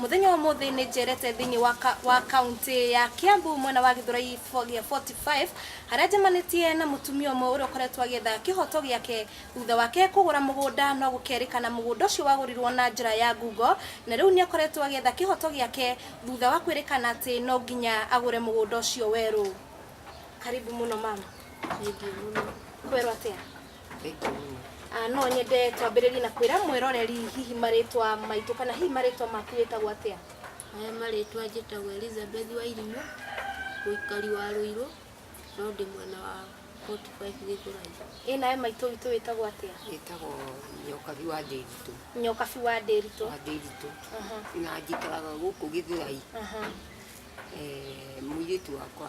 Mũthenya wa ũmũthĩ nĩ njerete thĩinĩ wa, ka, wa kaũntĩ ya Kiambu mwena wa Gĩthũrai fo- gĩa 45 harĩa njemanĩtie na mũtumia ũmwe ũrĩa ũkoretwo agĩetha kĩhoto gĩake thutha wake kũgũra mũgũnda no gũkerĩkana mũgũnda ũcio wagũrirwo na njĩra ya ngungo na rĩu nĩ akoretwo agĩetha kĩhoto gĩake thutha wa kwĩrĩkana atĩ no nginya agũre mũgũnda ũcio werũ. Karibu mũno mama. Thengiũ mũno. Kwerwo atĩa? Ah, no nyende twambĩrĩrie na kwĩra mwĩroreri hihi marĩtwa maitũ kana hihi marĩtwa maku wĩtagwo atĩa Maya marĩtwa njĩtagwo Elizabeth Wairimũ, mũikari wa Rũirũ, no ndĩ mwena wa 45 Gĩthũrai. ĩ nawe maitũ witũ wĩtagwo atĩa ĩtagwo nyokabi wa ndĩritũ nyokabi wa ndĩritũ wa ndĩritũ Aha, na njikaraga gũkũ gĩthũrai aha. mũirĩtu wakwa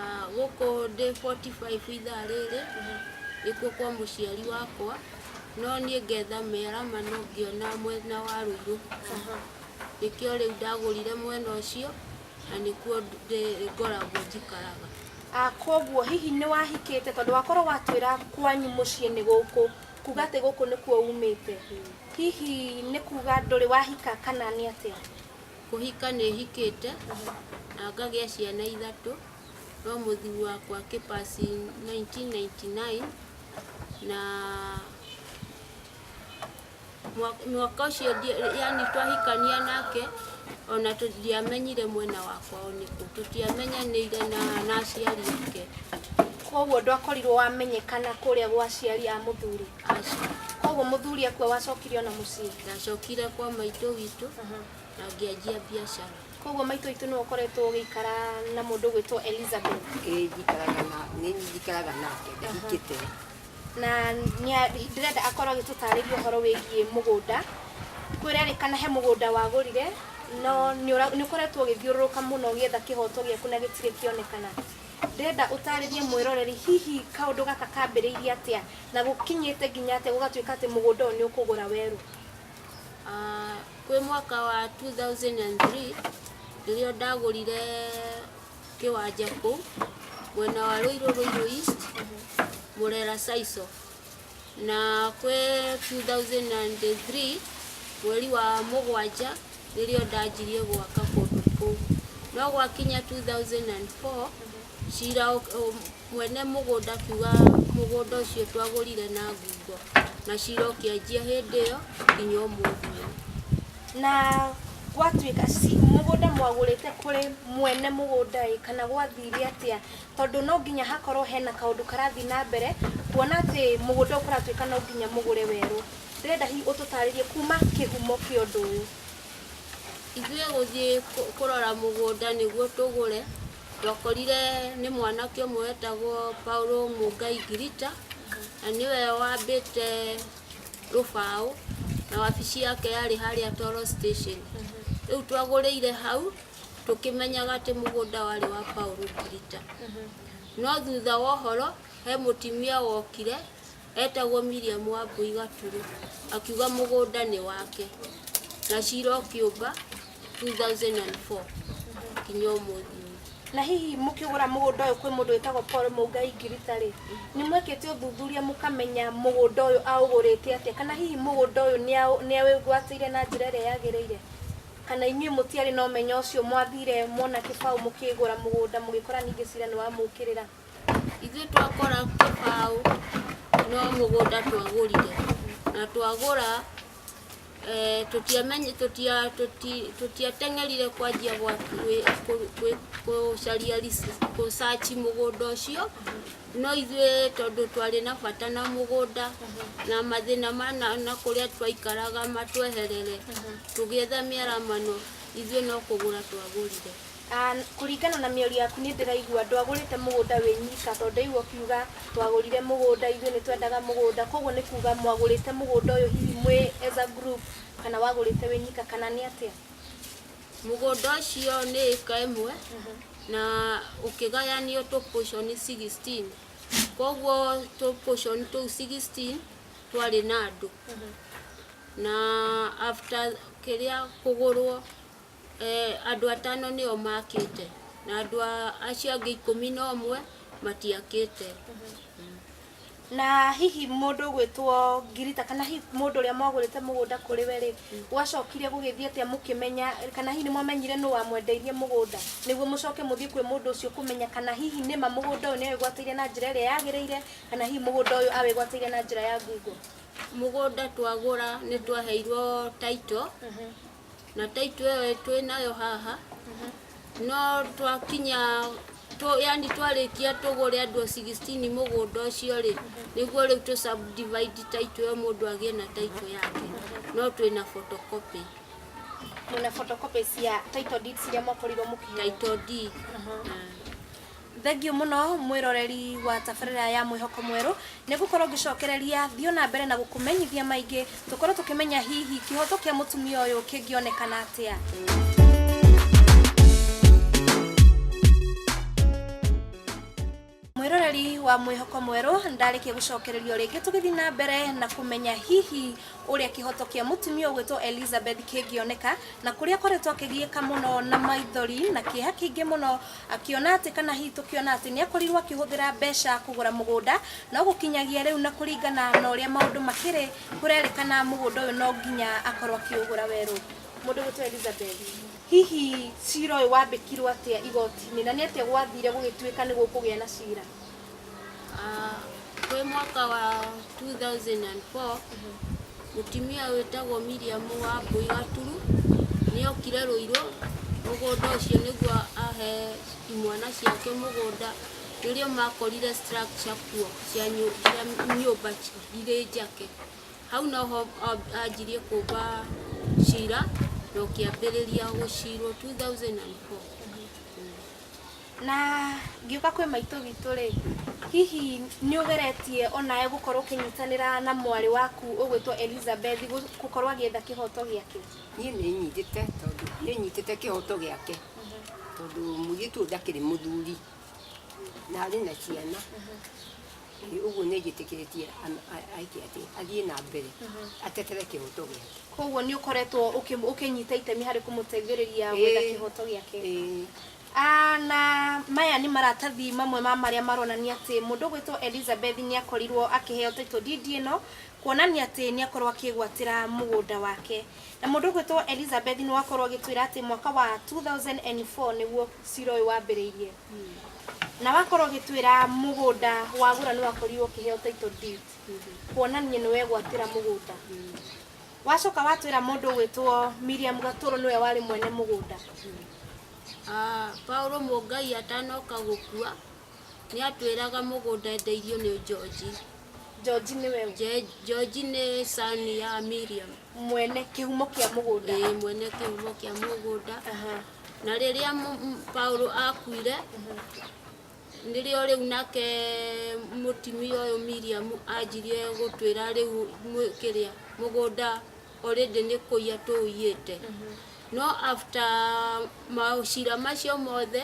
Ah, gũkũ ndĩ 45 ithaa rĩrĩ nĩkuo kwa mũciari wakwa no niĩ ngetha mĩarama no ngĩona mwena wa rũirũ nĩkĩo rĩu ndagũrire mwena ũcio na nĩkuo ndĩ- ngoragwo njikaraga Ah, koguo hihi nĩ wahikĩte tondũ wakorwo watwĩra kwanyu mũciĩ nĩ gũkũ kuga atĩ gũkũ nĩkuo umĩte hihi nĩ kuga ndũrĩ wahika kana nĩ atĩa Kũhika nĩ hikĩte na ngagĩa ciana ithatũ, no mũthuri wakwa akĩ pass nineteen ninety nine na mwaka ũcio yaani twahikania nake ona ndiamenyire mwena wakwa o nĩkũ, tũtiamenyanĩire na aciari ake. Kwoguo ndwakorirwo wamenyekana kũrĩa gwa aciari a mũthuri? koguo mũthuri akua wacokire ona mũciĩ ndacokire kwa maitũ witũ na ngĩanjia biacara koguo maitũ witũ nĩwe ũkoretwo ũgĩikara na mũndũ gwĩtwo elizabeth njikaraga na nĩ njikaraga nake ndahikĩte na nĩa- ndĩrenda akorwo agĩtũtarĩria ũhoro wĩgiĩ mũgũnda kwĩrerĩkana he mũgũnda wagũrire no nĩũra- nĩũkoretwo ũgĩthiũrũrũka mũno ũgĩetha kĩhoto gĩaku na gĩtirĩ kĩonekana Ndĩrenda ũtaarĩrie mwĩroreri hihi kaũndũ gaka kambĩrĩirie atĩa na gũkinyĩte nginya atĩa gũgatuĩka atĩ mũgũnda ũyũ nĩ ũkũgũra werũ. Ah, kwĩ mwaka wa 2003 rĩrĩa ndagũrire kĩwanja kũu mwena wa Rũirũ Rũirũ East, Murera Saico. Na kwĩ 2003 mweri wa mũgwanja nĩrĩo ndanjirie gwaka kũndũ kũu. No gwakinya 2004 cira mwene mũgũnda akiuga mũgũnda ũcio twagũrire na ngungo na cira ũkĩanjia hĩndĩ ĩyo nginya ũmũthĩ ũyũ. Na gwatuĩka mũgũnda mwagũrĩte kũrĩ mwene mũgũnda ĩ kana gwathire atĩa? Tondũ no nginya hakorwo hena kaũndũ karathiĩ na mbere, kuona atĩ mũgũnda ũyũ kũratuĩka no nginya mũgũre werũ. Ndĩrenda hihi ũtũtarĩrie kuma kĩhumo kĩa ũndũ ũyũ. Ithuĩ gũthiĩ kũrora mũgũnda nĩguo tũgũre, twakorire nĩ mwanake ũmwe wetagwo Paul Mũngai Ngirita, na nĩwe wambĩte rũbaũ, na wabici yake yarĩ harĩa Toro Station. Rĩu twagũrĩire hau. tũkĩmenyaga atĩ mũgũnda warĩ wa Paul Kirita. No thutha wa ũhoro, he mũtimia wokire etagwo Miriam Wambui Gaturu, akiuga mũgũnda nĩ wake, na cira ũkĩũmba 2004 nginya ũmũthĩ ũyũ. Na hihi mũkĩgũra mũgũnda ũyũ kwĩ mũndũ wĩtagwo Paul Mũngai Ngirita rĩ, nĩ mwekĩte ũthuthuria mũkamenya mũgũnda ũyũ aũgũrĩte atĩa, kana hihi mũgũnda ũyũ nĩ aũ- nĩ awĩgwatĩire na njĩra ĩrĩa yagĩrĩire? Kana inyuĩ mũtiarĩ na ũmenyo ũcio, mwathiire muona kĩbaũ mũkĩgũra mũgũnda, mũgĩkora ningĩ cira nĩwamũũkĩrĩra? Ithuĩ twakora kĩbaũ no mũgũnda twagũrire, na twagũra tũtiateng'erire kwanjia gũcaria research mũgũnda ũcio. No ithuĩ tondũ twarĩ na bata na mũgũnda na mathĩna ma na, na kũrĩa twaikaraga matweherere tũgĩetha mĩaramano ithuĩ no kũgũra twagũrire. Ah, kũringana na mĩario yaku nĩ ndĩraigua ndwagũrĩte mũgũnda wĩ nyika tondũ ndaigua ũkiuga twagũrire mũgũnda ithuĩ nĩ twendaga mũgũnda koguo nĩ kuga mwagũrĩte mũgũnda ũyũ hihi mwĩ as a group kana wagũrĩte wĩ nyika kana nĩ atĩa? Mũgũnda ũcio nĩ ĩka ĩmwe na ũkĩgayanio tũ portion 16. Koguo tũ portion tũu 16 twarĩ na andũ. Na after kĩrĩa kũgũrwo eh, andũ atano nĩo makĩte na andũ a- acio angĩ ikũmi na ũmwe matiakĩte. Na hihi mũndũ ũgwĩtwo Ngirita, kana hihi mũndũ ũrĩa mwagũrĩte mũgũnda kũrĩ we-rĩ, gwacokire gũgĩthiĩ atĩa mũkĩmenya, kana hihi nĩmwamenyire nũ wamwendeirie mũgũnda, nĩguo mũcoke mũthiĩ kwĩ mũndũ ũcio kũmenya kana hihi nĩma mũgũnda ũyũ nĩawĩgwatĩire na njĩra ĩrĩa yagĩrĩire, kana hihi mũgũnda ũyũ awĩgwatĩire na njĩra ya ngungo? Mũgũnda twagũra nĩtwaheirwo title. na ta itwe twĩ nayo haha no twakinya tũ- yani twarĩkia tũgũre andũ 16 mũgũnda ũcio rĩ nĩguo rĩu tũ subdivide ta itwe mũndũ agĩe na ta itwe yake no twĩ na photocopy Mwĩna photocopy cia title deeds iria mwakorirwo mũkĩheo. title deed Aha. Ah. Thengiũ mũno mwĩroreri wa tabarĩra ya Mwĩhoko Mwerũ, nĩ ngũkorwo ngĩcokereria thiĩ o na mbere na gũkũmenyithia maingĩ, tũkorwo tũkĩmenya hihi kĩhoto kĩa mũtumia ũyũ kĩngĩonekana atĩa. Mwĩroreri wa Mwĩhoko Mwerũ, ndarĩkia gũcokererio rĩngĩ tũgĩthiĩ na mbere na kũmenya hihi ũrĩa kĩhoto kĩa mũtumia ũgwĩtwo Elizabeth kĩngĩoneka, na kũrĩa akoretwo akĩgiĩka mũno na maithori na kĩeha kĩingĩ mũno Akĩona atĩ kana hihi tũkĩona atĩ nĩ akorirũo akĩhũthĩra mbeca kũgũra mũgũnda, no gũkinyagia rĩu na kũringana na ũrĩa maũndũ makĩrĩ, kũrerĩkana mũgũnda ũyũ no nginya akorũo akĩũgũra werũ. Mũndũ ũgwĩtwo Elizabeth. Hihi cira ũyũ wambĩkirũo atĩa igoti-inĩ, na nĩ atĩa gwathire gũgĩtuĩka nĩ gũkũgĩa na cira? Ah, kwĩ mwaka wa 2004 mũtumia wĩtagwo Miriam wa Mbũi Gaturu nĩokire Rũirũ mũgũnda ũcio nĩguo ahe imwana ciake mũgũnda nĩrĩo makorire structure kuo cia nyũ- cia nyũmba irĩ njake. Hau noho o- anjirie kũmba cira na ũkĩambĩrĩria gũcirwo 2004. Na ngiuka kwĩ maitũ witũ rĩ, hihi nĩ ũgeretie onawe gũkorwo ũkĩnyitanĩra na mwarĩ waku ũgwĩtwo Elizabeth gũkorwo agĩetha kĩhoto gĩake? Niĩ nĩ nyitĩte tondũ nĩ nyitĩte kĩhoto gĩake tondũ mũirĩtu ũyũ ndakĩrĩ mũthuri na arĩ na ciana, ũguo nĩ njĩtĩkĩrĩtie eke atĩa, athiĩ na mbere atetera kĩhoto gĩake. Koguo nĩ ũkoretwo ũkĩnyita itemi harĩ kũmũteithĩrĩria gwetha kĩhoto gĩake? Ĩĩ. Aah Na maya nĩ maratathi mamwe ma marĩa maronania atĩ mũndũ ũgwĩtwo Elizabeth nĩ akorirwo akĩheo title deed ĩno, kuonania atĩ nĩ akorwo akĩgwatĩra mũgũnda wake. Na mũndũ ũgwĩtwo Elizabeth nĩ wakorwo agĩtwĩra atĩ mwaka wa two thousand and four nĩguo cira ũyũ wambĩrĩirie. Na wakorwo ũgĩtwĩra mũgũnda wagũra nĩ wakorirwo ũkĩheo title deed, kuonania nĩ wegwatĩra mũgũnda. Wacoka watwĩra mũndũ ũgwĩtwo Miriam Gatũrũ nĩwe warĩ mwene mũgũnda. Paulo Mũngai atanoka gũkua nĩ atwĩraga mũgũnda endeirio nĩ Njonji. Njonji nĩwe ũ? Je- Njonji nĩ son ya Miriam, Mwene kĩhumo kĩa mũgũnda. ĩĩ mwene kĩhumo kĩa mũgũnda. Aha. Na rĩrĩa mũ- m- Paulo akuire, nĩrĩo rĩu nake mũtumia ũyũ Miriam anjirie gũtwĩra rĩu mũ- kĩrĩa mũgũnda already nĩ kũiya tũũiyĩte no after maũcira macio mothe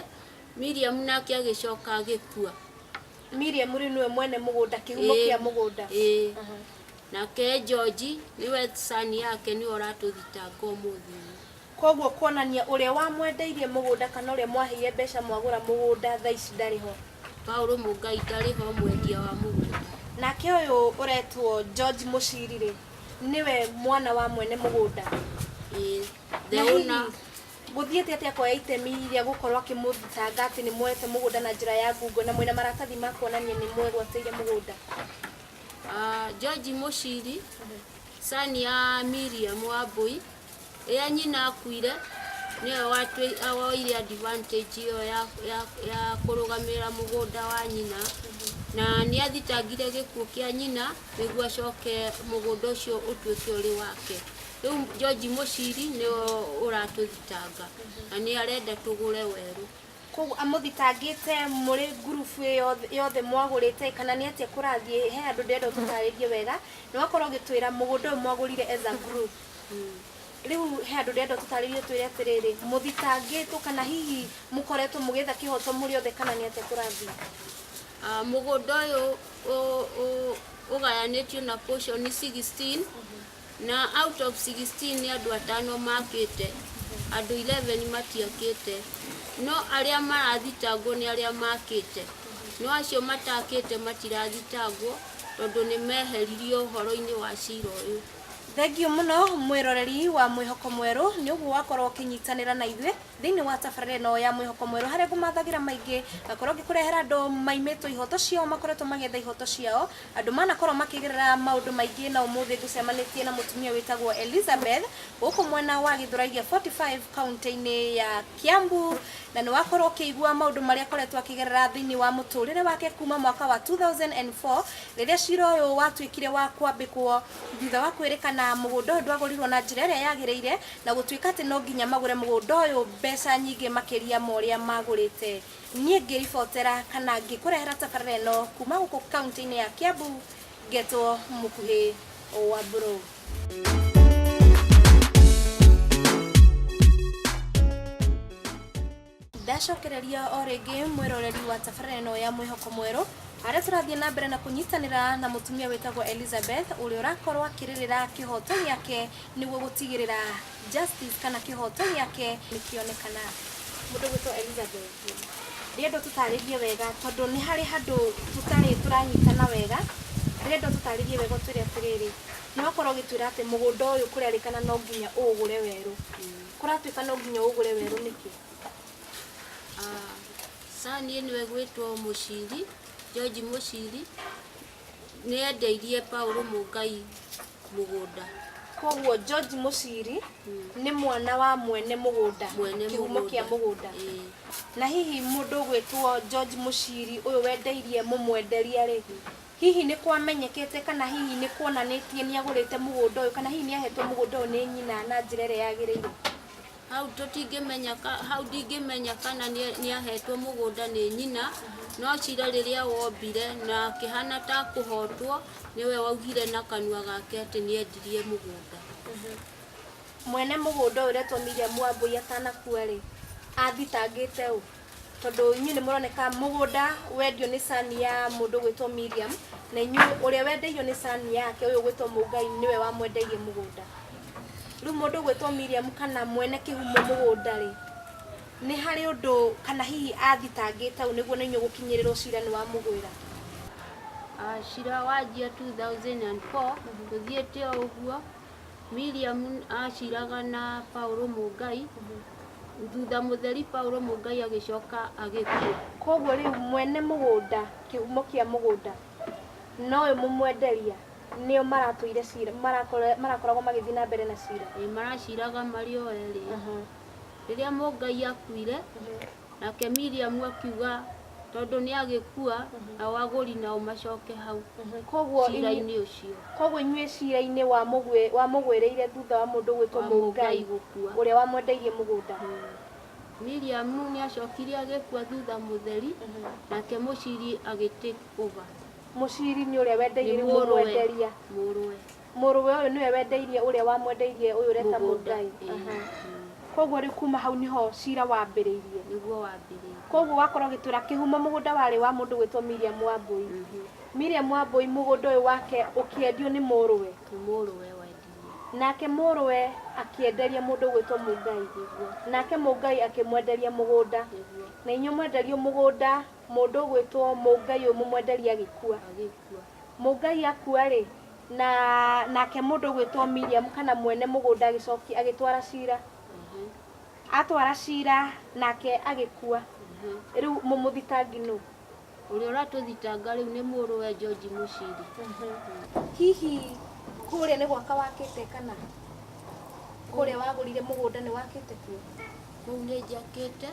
Miriam nake agĩcoka agĩkua Miriam rĩu nĩwe mwene mũgũnda kĩhumo Ĩĩ. kĩa mũgũnda Ĩĩ. Aha. nake George nĩwe son yake nĩwe ũratũthitanga ũmũthĩ ũyũ. koguo kuonania ũrĩa wamwendeirie mũgũnda kana ũrĩa mwaheire mbeca mwagũra mũgũnda thaa ici ndarĩ ho Paulo Mũngai ndarĩ ho mwendia wa mũgũnda nake ũyũ ũretwo George Mũciri rĩ nĩwe mwana wa mwene mũgũnda Ĩĩ. The Na hihi, owner. gũthiĩte atĩa kuoya itemi rĩa gũkorwo akĩmũthitanga atĩ nĩ muoete mũgũnda na njĩra ya ngungo na mwĩna maratathi ma kuonania nĩ mwegwatĩire mũgũnda Ah, George Mushiri, son ya Miriam Wambui, Rĩrĩa nyina akuire, nĩwe watwĩ- a- woire advantage ĩyo ya, ya, ya kũrũgamĩrĩra mũgũnda wa nyina na nĩ athitangire gĩkuũ kĩa nyina nĩguo acoke mũgũnda ũcio ũtuĩke ũrĩ wake. Rĩu George Mũciri nĩwe ũratũthitanga na nĩ arenda tũgũre werũ. Koguo amũthitangĩte mũrĩ ngurubu ĩyo yothe mwagũrĩte kana nĩ atĩa kũrathiĩ? He handũ ndĩrenda ũtũtarĩrie wega na ũgakorwo ũgĩtwĩra mũgũnda ũyũ mwagũrire as a group. rä u he andå ndärenda å tå tarä rie twä re atä rä rä må thitangä two kana hihi må koretwo må gä etha kä hoto må rä othe kana nä atä kå rathiä Ah, mũgũnda ũyũ ũ- ũ- ũgayanĩtio na portion 16 na out of 16 nĩ andũ atano makĩte andũ 11 matiakĩte no arĩa marathitangwo nĩ arĩa makĩte no acio matakĩte matirathitangwo tondũ nĩ meheririo ũhoro-inĩ wa cira ũyũ Thengiũ mũno mwĩroreri wa Mwĩhoko Mwerũ nĩ ũguo wakorwo ũkĩnyitanĩra na ithuĩ thĩinĩ wa tabarĩra ĩno ya Mwĩhoko Mwerũ harĩa ngũmathagĩra maingĩ ngakorwo ngĩkũrehera andũ maimĩtwo ihoto ciao makoretwo magĩetha ihoto ciao andũ manakorwo makĩgerera maũndũ maingĩ na ũmũthĩ ngũcemanĩtie na mũtumia wĩtagwo Elizabeth gũkũ mwena wa Gĩthũrai gĩa 45 kaunti-inĩ ya Kiambu, na nĩ wakorũo ũkĩigua maũndũ marĩa akoretwo akĩgerera thĩinĩ wa mũtũũrĩre wake kuuma mwaka wa 2004 rĩrĩa cira ũyũ watuĩkire wa kwambĩkwo thutha wa kwĩrĩkana mũgũnda ũyũ ndwagũrirũo na njĩra ĩrĩa yagĩrĩire na gũtuĩka atĩ no nginya magũre mũgũnda ũyũ mbeca nyingĩ makĩria ma ũrĩa magũrĩte. Niĩ ngĩribotera kana ngĩkũrehera tabarĩra ĩno kuuma gũkũ kaunti-inĩ ya Kiambu ngetwo Mũkuhĩ Wambũrũ. ndacokereria o rĩngĩ mwĩroreri wa tabarĩra ĩno ya mwĩhoko mwerũ harĩa tũrathiĩ na mbere na kũnyitanĩra na mũtumia wĩtagwo elizabeth ũrĩa ũrakorwo akĩrĩrĩra kĩhoto gĩake nĩguo gũtigĩrĩra Justice kana kĩhoto gĩake nĩkĩonekana. Mũndũ ũgwĩtwo Elizabeth ndĩrenda ũtũtarĩrie wega tondũ nĩ harĩ handũ tũtarĩ tũranyitana wega, ndĩrenda ũtũtarĩrie wega ũtwĩre atĩrĩrĩ, nĩwakorwo ũgĩtwĩra atĩ mũgũnda ũyũ kũrerĩkana no nginya ũũgũre werũ, kũratuĩka no nginya ũũgũre werũ nĩkĩ? Sir, niĩ nĩwe ngwĩtwo mũciri, George mũciri, nĩendeirie Paul Mũngai mũgũnda koguo George Mũciri nĩ mwana wa mwene mũgũnda Mwene kĩhumo mũgũnda. kĩa mũgũnda Ĩĩ. na hihi mũndũ gwĩtwo George Mũciri ũyũ wendeirie mũmwenderia rĩ hihi nĩ kwamenyekete kana hihi nĩ kuonanĩtie nĩ agũrĩte mũgũnda ũyũ kana hihi nĩ ahetwo mũgũnda ũyũ nĩ nyina na njĩra ĩrĩa yagĩrĩire Hau tũtingĩmenya ka, hau ndingĩmenya kana nĩ- nĩahetwo mũgũnda nĩ nyina, no cira rĩrĩa wombire na akĩhana ta kũhotwo, nĩwe waugire na kanua gake atĩ nĩendirie mũgũnda. Mwene mũgũnda ũyũ ũretwo Miriam Wambũi atanakua-rĩ, athitangĩte ũ? Tondũ inyuĩ nĩ mũroneka mũgũnda wendio nĩ son ya mũndũ ũgwĩtwo Miriam, na inyuĩ ũrĩa wendeirio nĩ son yake ũyũ ũgwĩtwo Mũngai nĩwe wamwendeirie mũgũnda. Rĩu mũndũ ũgwĩtwo Miriam kana mwene kĩhumo mũgũnda rĩ, nĩ harĩ ũndũ kana hihi athitangĩte ũũ nĩguo na inyuĩ gũkinyĩrĩrwo cira nĩ wamũgwĩra? Ah, cira wanjia 2004 gũthiĩte o ũguo William aciraga na Paulo Mũngai, thutha mũtheri Paulo Mũngai agĩcoka agĩkua. Koguo rĩu mwene mũgũnda, kĩhumo kĩa mũgũnda, na ũyũ mũmwenderia nĩo maratũire cira, marakore- marakoragwo magĩthiĩ na mbere na cira. Ĩ maraciraga marĩ o erĩ. Rĩrĩa Mũngai akuire, Nake Miriamu akiuga, Tondũ nĩagĩkua, nao agũri nao macoke hau Koguo inyuĩ- ciira-inĩ ũcio Koguo inyuĩ ciira-inĩ wa mũgwĩ- wa mũgwĩrĩire thutha wa mũndũ gwĩtwo wa Mũgai Mũgai gũkua. ũrĩa wamwendeirie mũgũnda. Miriamu nĩacokire agĩkua thutha mũtheri, nake mũciri agĩtake over. Mũciri nĩ ũrĩa Nĩ wendeirie mũrũwe. mũmwenderia. Mũrũwe. Mũrũwe ũyũ nĩwe wendeirie ũrĩa wamwendeirie ũyũ ũreta Mũgai. Koguo rĩu kuma hau nĩho cira wambĩrĩirie. Nĩguo wambĩrĩirie. Koguo wakorwo ũgĩtwĩra kĩhumo mũgũnda warĩ wa mũndũ ũgwĩtwo Miriam Wambũi. Miriam Wambũi mũgũnda ũyũ wake ũkĩendio nĩ mũrũwe. Nĩ mũrũwe wendirie. Nake mũrũwe akĩenderia mũndũ ũgwĩtwo Mũgai. Nĩguo. Nake Mũgai akĩmwenderia mũgũnda. Nĩguo. Na inyuĩ mwenderio mũgũnda mũndũ ũgwĩtwo Mũgai ũyũ mũmwenderie agĩkua. Agĩkua. Mũngai akua-rĩ, na nake mũndũ ũgwĩtwo Miriamu kana mwene mũgũnda agĩcokia agĩtwara cira. Atwara cira nake agĩkua. Rĩu mũmũthitangi nũ? Ũrĩa ũratũthitanga rĩu nĩ mũrũwe George Muciri. Hihi kũrĩa nĩ gwaka wakĩte kana kũrĩa wagũrire mũgũnda nĩ wakĩte kuo? Kũu nĩ njakĩte.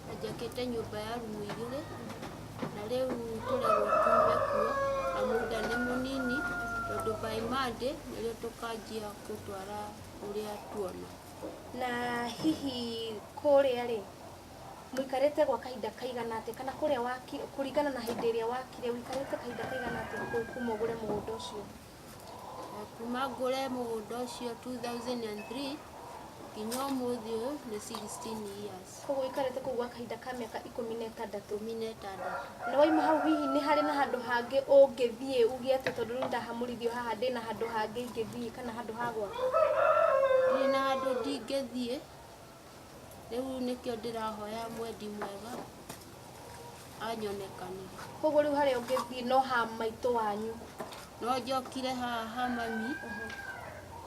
na njakĩte nyũmba ya rumu igĩrĩ na rĩu tũrerwo tume kuo na mũgũnda nĩ mũnini tondũ by Monday nĩrĩo tũkanjia gũtwara ũrĩa tuona. Na hihi kũrĩa rĩ mũikarĩte gwa kahinda kaigana atĩa kana kũrĩa wakire kũringana na hĩndĩ ĩrĩa wakire ũikarĩte kahinda kaigana atĩa kuma ũgũre mũgũnda ũcio? Na kuma ngũre mũgũnda ũcio 2003 nginya ũmũthĩ ũyũ nĩ 16 years. Koguo ũikarĩte kũu gwa kahinda ka mĩaka ikũmi na ĩtandatũ. Ikũmi na ĩtandatũ. Na waima hau hihi nĩ harĩ na handũ hangĩ ũngĩthiĩ uge atĩ tondũ rĩu ndahamũrithio haha ndĩna handũ hangĩ ingĩthiĩ kana handũ ha gwaka? Ndirĩ na handũ ndingĩthiĩ. Rĩu nĩkĩo ndĩrahoya mwendi mwega anyonekanĩre. Koguo rĩu harĩa ũngĩthiĩ no ha maitũ wanyu? No njokire haha ha mami,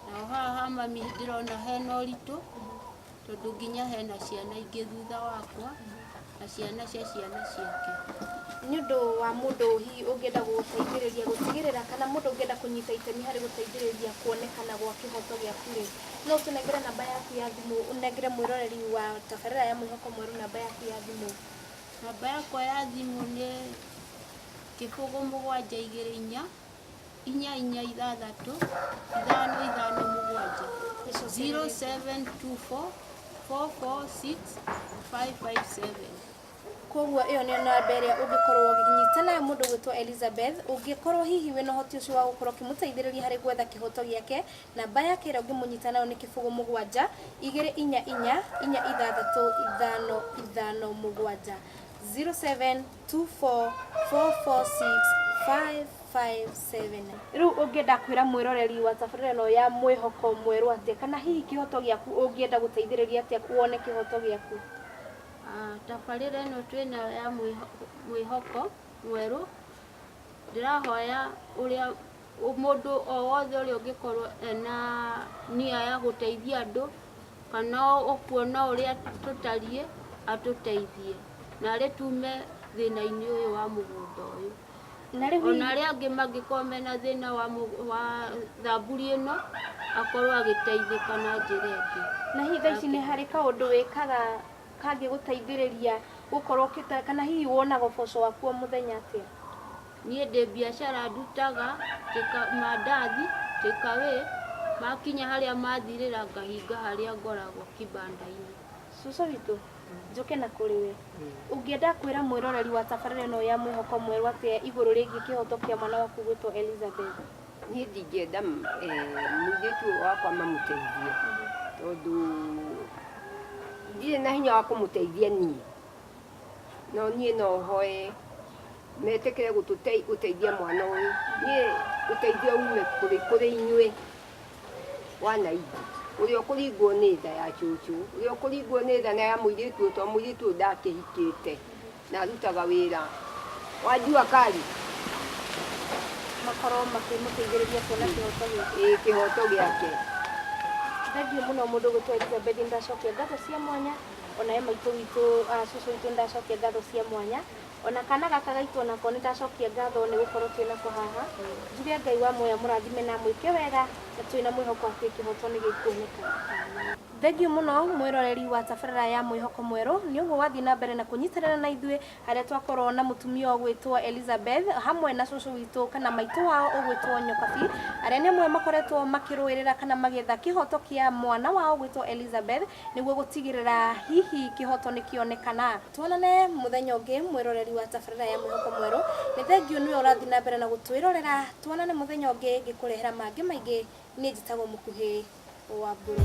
nao haha ha mami ndĩrona hena ũritũ tondũ nginya hena ciana ingĩ thutha wakwa. na ciana cia ciana ciake. Nĩ ũndũ wa mũndũ hihi ũngĩenda gũgũteithĩrĩria gũtigĩrĩra kana mũndũ ũngĩenda kũnyita itemi harĩ gũteithĩrĩria kuonekana gwa kĩhoto gĩaku-rĩ, no ũtũnengere namba yaku ya thimũ, ũnengere mwĩroreri wa tabarĩra ya Mwĩhoko Mwerũ namba yaku ya thimũ. Namba yakwa ya thimũ nĩ kĩbũgũ mũgwanja igĩrĩ inya. inya inya ithathatũ ithano ithano mũgwanja 0724465557 koguo ĩyo nĩyo namba ĩrĩa ũngĩkorwo ũgĩnyita nayo mũndũ gwĩtwo elizabeth ũngĩkorwo hihi wĩna ũhoti ũcio wa gũkorwo ũkĩmũteithĩrĩria harĩ gwetha kĩhoto gĩake namba yake ĩrĩa ũngĩmũnyita nayo nĩ kĩbũgũ mũgwanja igĩrĩ inya inya inya ithathatũ ithano ithano mũgwanja 07 two four four four six five five seven. Rĩu ũngĩenda kwĩra mwĩroreri wa tabarĩra ĩno ya mwĩhoko mwerũ atĩa kana hihi kĩhoto gĩaku ũngĩenda gũteithĩrĩria atĩa wone kĩhoto gĩaku? Ah, tabarĩra ĩno twĩ nayo ya mwĩhoko mwerũ ndĩrahoya ũrĩa Mũndũ o wothe ũrĩa ũngĩkorwo ena nia ya gũteithia andũ kana ũkuona ũrĩa tũtariĩ atũteithie narĩ tume thĩna-inĩ ũyũ wa mũgũnda ũyũ. Ona arĩa angĩ mangĩkorwo mena thĩna wa thamburi ĩno akorwo agĩteithĩka na njĩra ĩngĩ. Na hihi thaa ici nĩ harĩ kaũndũ wĩkaga kangĩgũteithĩrĩria gũkorwo kana hihi wonaga ũboco waku o mũthenya atĩa? Niĩ ndĩ biacara ndutaga, mandathi, take away, makinya harĩa mathirĩra ngahinga harĩa ngoragwo kibanda-inĩ. Cũcũ witũ, njũke na kũrĩ we, ũngĩenda kwĩra mwĩroreri wa tabarĩra ĩno ya Mwĩhoko Mwerũ atĩa igũrũ rĩgiĩ kĩhoto kĩa mwana waku gwĩtwo Elizabeth? Niĩ ndingĩenda mũirĩtu ũyũ wakwa mamũteithie, tondũ ndirĩ na hinya wa kũmũteithia niĩ. No niĩ no hoe metĩkĩre gũteithia mwana ũyũ. Niĩ ũteithio ume kũrĩ inyuĩ wananchi. Ũrĩa ũkũringwo nĩ tha ya cũcũ, ũrĩa ũkũringwo nĩ tha ya mũirĩtu ũyũ tondũ mũirĩtu ũyũ ndakĩhikĩte na arutaga wĩra wa jua kali. Makorwo makĩmũteithĩrĩria kuona kĩhoto gĩake. Ĩĩ kĩhoto gĩake. Thengiũ mũno mũndũ gũtwarithia Beth Ndĩracokĩa ngatho cia mwanya. ona he maitũ witũ ah, cũcũ witũ nĩndacokia ngatho cia mwanya ona kana gaka gaitũ onako nĩndacokia ngatho nĩ gũkorwo twĩ nako haha njuge ngai wa muoya mũrathime na mwĩke wega na twĩ na mwĩhoko atĩ kĩhoto nĩ gĩkuoneka Thengiũ mũno mwĩroreri wa tabarĩra ya mwĩhoko mwerũ nĩ ũguo wathiĩ na mbere na kũnyitanĩra na ithuĩ harĩa twakorwo na mũtumia ũgwĩtwo Elizabeth hamwe na cũcũ witũ kana maitũ wao ũgwĩtwo Nyokabi arĩa nĩ amwe makoretwo makĩrũĩrĩra kana magĩetha kĩhoto kĩa mwana wao ũgwĩtwo Elizabeth Nĩguo gũtigĩrĩra hihi kĩhoto nĩ kĩonekana. Tuonane mũthenya ũngĩ mwĩroreri wa tabarĩra ya Mwĩhoko Mwerũ. Nĩ thengiũ nĩwe ũrathiĩ na mbere na gũtwĩrorera. Tuonane mũthenya ũngĩ ngĩkũrehera mangĩ maingĩ. Niĩ njĩtagwo Mũkuhĩ Wambũrũ.